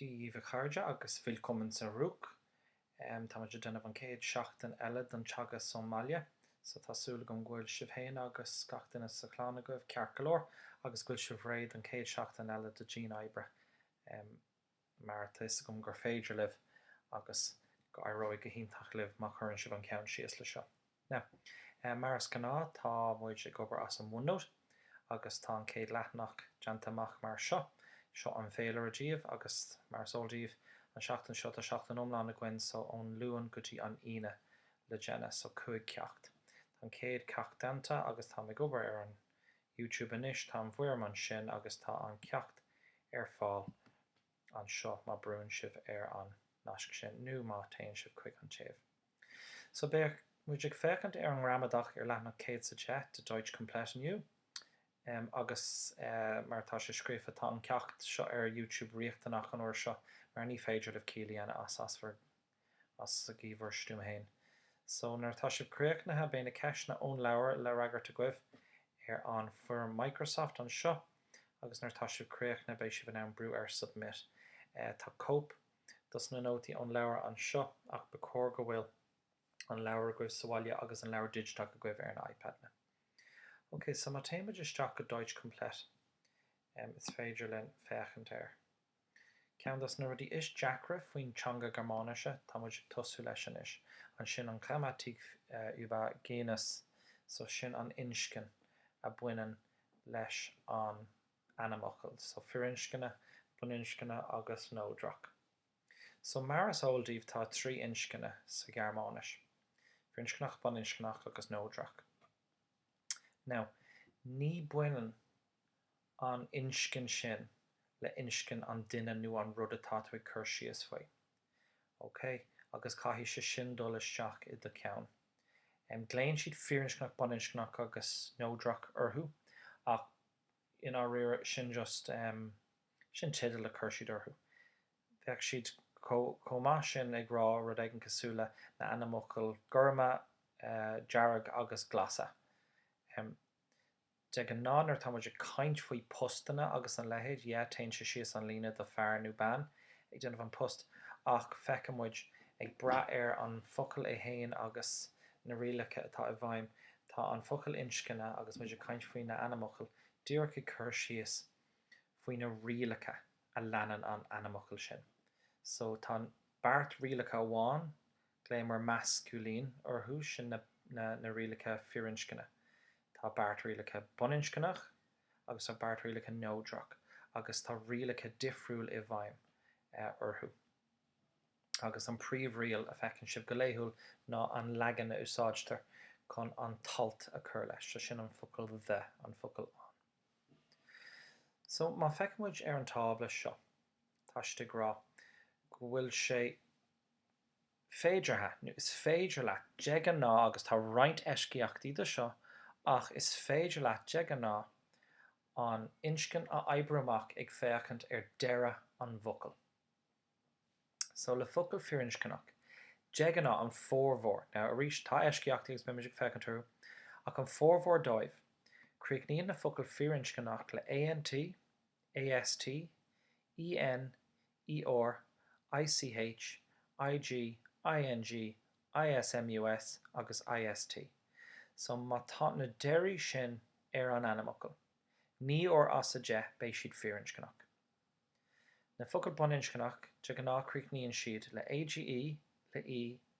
Dia daoibh a chairde agus willkommen zurück. Tá muid ag déanamh an chéad seachtain eile den teagasc ón mbaile, so tá súil agam go bhfuil sibh féin agus gach duine sa chlann agaibh ceart go leor agus go bhfuil sibh réidh don chéad seachtain eile de dian oibre. mar tá 'fhios agam gur féidir libh agus go éireoidh go hiontach libh má chuireann sibh an ceann síos le seo. Now, mar is gnáth tá muid ag obair as an OneNote agus tá an chéad leathanach déanta amach mar seo. Seo an féilire daoibh agus mar is eol daoibh an seachtain seo tá seachtain iomlán againn so ón Luan go dtí an Aoine le déanamh so cúig ceacht. Tá an céad ceacht déanta agus táim ag obair ar an YouTube anois, tá an bhfoirm ansin agus tá an ceacht ar fáil anseo má brúnn sibh ar an nasc sin nó má téann sibh chuig an taobh. So beidh muid ag féachaint ar an ngramadach ar leathanach 100 is a deich de Deutsch komplett inniu. Em, agus, eh, mar atá sé scríofa, tá an ceacht seo ar YouTube riachtanach an uair seo mar ní féidir libh ciall a dhéanamh as ar bhur as go ciúin ar bhur stuaim féin. So nuair atá sibh críochnaithe, beidh na ceisteanna ón leabhar le fhreagairt agaibh ar an bhfoirm Microsoft anseo agus nuair atá sibh críochnaithe, beidh sibh in ann brú ar Submit. Tá cóip dos na nótaí ón leabhar anseo ach ba chóir go bhfuil an leabhar agaibh sa bhaile agus an leabhar digiteach agaibh ar na iPadanna. Ok, so má théimid isteach go Deutsch Komplett, is féidir linn féachaint air. Ceann de na rudaí is deacra faoin teanga Gearmáinise atá muid ag tosú leis anois, ansin an Grammatik über Genus, so sin an inscne a bhaineann leis an ainmfhocal, so firinscne, baininscne agus neodrach. So mar is eol daoibh tá trí inscne sa Ghearmáinis, firinscneach, baininscneach agus neodrach. Now ní bhaineann an inscne sin le inscne an duine nó an rud atá tú ag cur síos faoi. Ok? Agus caithfidh sé sin dul isteach i do cheann. Em, glaonn siad firinscneach, baininscneach agus neodrach orthu ach i ndáiríre sin just, em, sin teideal a chur siad orthu. Bheadh siad chomh maith sin ag rá rud éigin cosúil le na ainmfhocail gorma, eh, dearg agus glasa. Em. De ghnáth nuair atá muid ag caint faoi phostanna agus a leithéid, yeah, téann sé síos an líne de fear nó bean ag déanamh an post, ach feiceann muid, ag brath ar an focal é féin agus na rialacha atá i bhfeidhm, tá an focal inscne, agus muid ag caint faoi na ainmfhocail, díreach ag cur síos faoi na rialacha a leanann an ainmfhocal sin. So tá beart rialacha amháin Glaofaimid masculine orthu sin na rialacha firinscne. Tá beart rialacha baininscneach agus tá beart rialacha neodrach agus tá rialacha difriúil i bhfeidhm orthu. Agus an príomhriail a feiceann sibh go laethúil ná an leagan a úsáidtear chun an t-alt a chur leis, sé sin an focal 'the', an focal 'an'. So má feiceann muid ar an tábla seo, tá siad ag rá go bhfuil sé. féideartha, nó is féidir leat de ghnáth, agus tá roinnt eisceachtaí do seo, ach is féidir leat de ghnáth an inscne a oibriú amach ag féachaint ar deireadh an bhfocail. So le focail firinscneach, de ghnáth an formhór, now arís tá eisceachtaí agus beimid ag féachaint orthu, ach an formhór dóibh, críochnaíonn na focail firinscneach le ANT, AST, EN, ER, ICH, IG, ING, ISMUS agus IST. So má tá na deirí sin ar an ainmfhocal, naoi uair as a deich beidh siad firinscneach. Na focail baininscneach de ghnáth críochnaíonn siad le AGE, le E, le.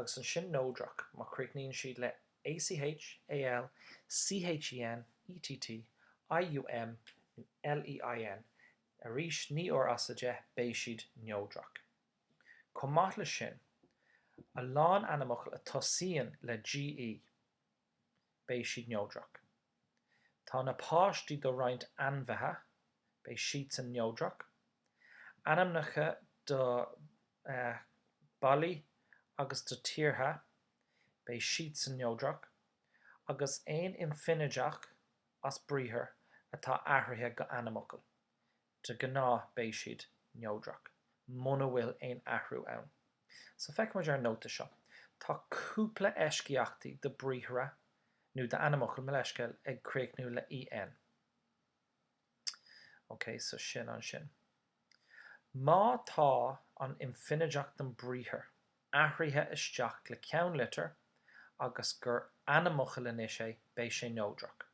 agus ansin neodrach má chríochnaíonn siad le ACH, AL, CHEN, ETT, IUM, LEIN, arís naoi uair as a deich beidh siad neodrach. Chomh maith leis sin, a lán ainmfhocal a tosaíonn le GE, beidh siad neodrach. Tá na páistí do roinnt ainmhithe, beidh siadsan neodrach. Ainmneacha do bailí agus do tíortha, beidh siadsan neodrach, agus aon infinideach as briathar atá athraithe go ainmfhocal, De ghnáth beidh siad neodrach, muna bhfuil aon athrú ann. So feiceann muid ar an nóta seo, tá cúpla eisceachtaí do briathra nó d'ainmfhocail, mo leithscéal, ag críochnú le EN. Ok, so sin ansin. Má tá an infinideach den briathar athraithe isteach le ceannlitir agus gur ainmfhocal anois é, beidh sé neodrach.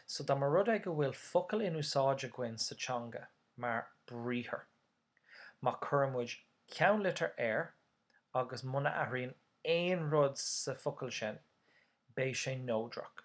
So dá mba rud é go bhfuil focal in úsáid againn sa teanga mar briathar, má chuireann muid ceannlitir air agus muna athraíonn aon rud sa focal sin, beidh sé neodrach.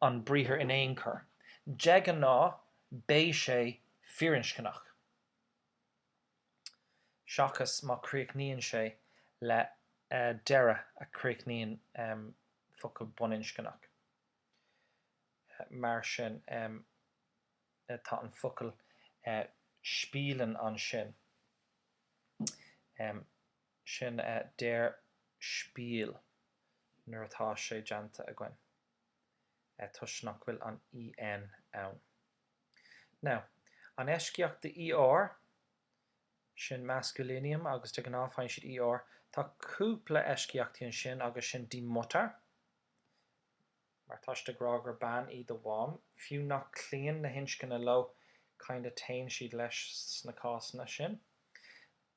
an briathar in aon chor. De ghnáth beidh sé firinscneach, seachas má chríochnaíonn sé le deireadh a chríochnaíonn focal baininscneach. Mar sin, tá an focal spielen ansin, sin der Spiel nuair atá sé déanta againn. toisc nach bhfuil an EN ann. Now, an eisceacht de ER, sin maskulinium agus de ghnáth faigheann siad ER. Tá cúpla eisceachtaí ansin agus sin die Mutter, mar tá siad ag rá gur bean í do mham, fiú nach cloíonn na hinscne leo kinda téann siad leis sna cásanna sin.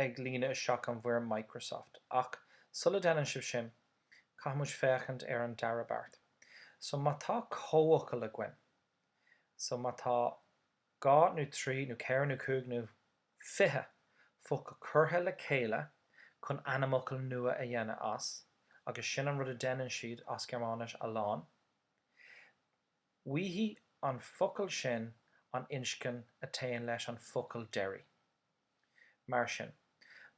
ag líonadh isteach an bhfoirm Microsoft. Ach sula deineann sibh sin, caithfimid féachaint ar an dara beart. So má tá comhfhocal againn, so má tá dhá nó trí nó ceithre nó cúig nó fiche focal curtha le chéile chun ainmfhocal nua a dhéanamh as, agus sin an rud a deineann siad as Gearmáinis a lán, Bhfaighidh an focal sin an inscne a téann leis an focal deiridh. Mar sin,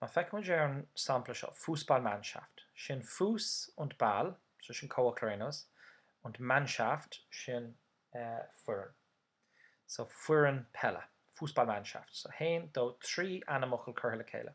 má feicimid ar an sampla seo Fußballmannschaft, sin Fuß und Ball, so sin comhfhocal ar aon nós, und Mannschaft, sin foireann, so foireann peile, Fußballmannschaft, so haon, dó, trí ainmfhocal curtha le chéile.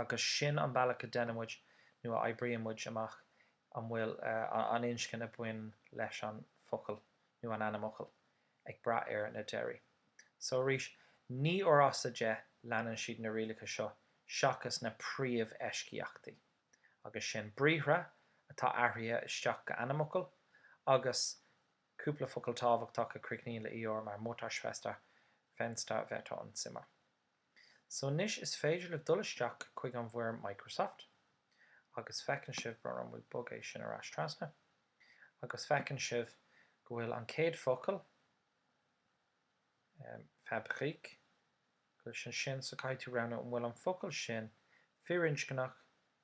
agus sin an bealach a deinimid nó a oibrímid amach an bhfuil an inscne a bhain leis an focal nó an ainmfhocal ag brath ar na deirí. So arís, naoi uair as a deich, leanann siad na rialacha seo seachas na príomheisceachtaí, agus sin briathra atá athraithe isteach go ainmfhocail, agus cúpla focal tábhachtach a chríochnaíonn le ER mar Mutter, Schwester, Fenster, Wetter und Zimmer. So anois is féidir libh dul isteach chuig an bhfoirm Microsoft agus feiceann sibh go raibh, an bhfuil bog é sin ar ais trasna? agus feiceann sibh go bhfuil an chéad focal, em, Fabrik, go bhfuil sé ansin so caithfidh tú roghnú an bhfuil an focal sin firinscneach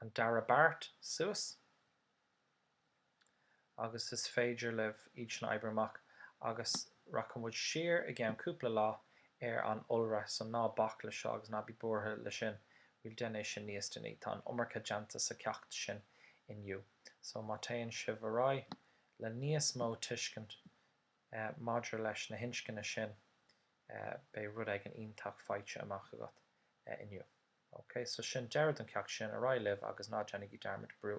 an dara beart suas, agus is féidir libh iad sin a oibriú amach, agus rachaidh muid siar i gceann cúpla lá ar an iolra, so ná bac leis seo agus ná bí buartha leis sin, we'll déan é sin níos déanaí, tá an iomarca déanta sa cheacht sin inniu, so má téann sibh ar aghaidh le níos mó tuiscint maidir leis na hinscne sin, beidh rud éigin iontach faighte amach agat inniu. OK, so sin deireadh don cheacht sin, ar aghaidh libh agus ná déanaigí dearmad brú